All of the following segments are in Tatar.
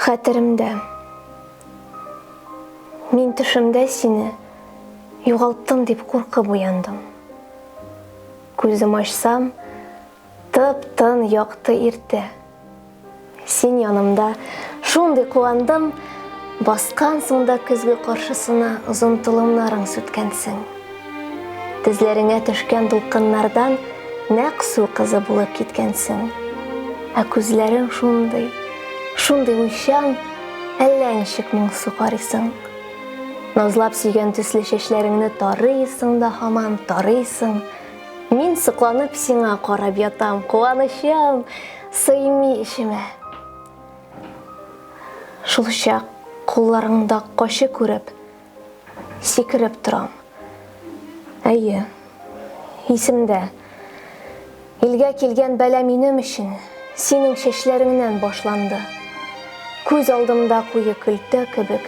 Хәтеремдә. Мин төшемдә сине югалттым дип куркып уяндым. Күзем ачсам, тып-тын якты иртә. Син янымда шундый куандым, баскансың да көзге каршысына озын толымнарың сүткәнсең. Тезләреңә төшкән дулкыннардан нәкъ су кызы булып киткәнсең. Ә күзләрең шундый, шундый уйчан, әллә ничек моңсу карыйсың. Назлап сөйгән төсле чәчләреңне тарыйсың да һаман тарыйсың. Мин сокланып сиңа карап ятам, куанычым сыймый эчемә. Шулчак кулларыңда качы күреп, Сикереп торам. Әйе, исемдә. Илгә килгән бәла минем өчен синең чәчләреңнән башланды. Күз алдымда куе көлтә кебек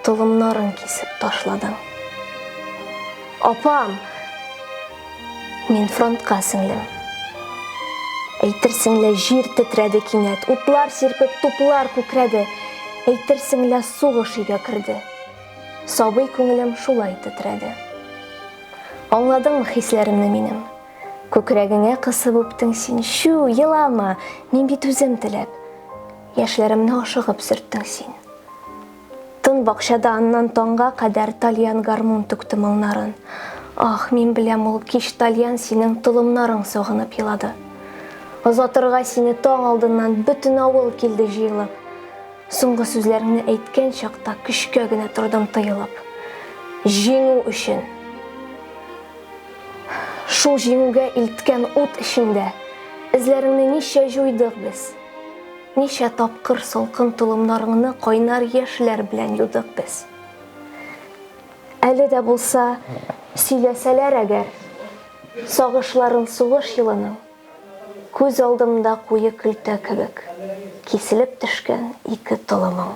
толымнарын кисеп ташладың. Апам! Мин фронтка, сеңлем. Әйтерсең лә җир тетрәде кинәт, утлар сирпеп, туплар күкрәде. Әйтерсең лә сугыш өйгә керде. Сабый күңелем шулай тетрәде. Аңладыңмы хисләремне минем? Күкрәгеңә кысып үптең син, чү, елама, мин бит үзем теләп. Яшьләремне ашыгып сөрттең син. Тын бакчада аннан таңга кадәр тальян гармун түкте моңнарын. Ах, мин беләм ул кич тальян синең толымнарың согынып елады. Озатырга сине таң алдыннан бөтен авыл килде җыелып. Соңгы сүзләреңне әйткән чакта көчкә генә тордым тыелып. Җиңү өчен. Шул җиңүгә илткән ут эчендә эзләреңне ничә җуйдык без. Ничә тапкыр салкын толымнарыңны кайнар яшьләр белән юдык без. Әле дә булса, сөйләсәләр әгәр, сагышларын сугыш елының, күз алдымда куе көлтә кебек киселеп төшкән ике толымың.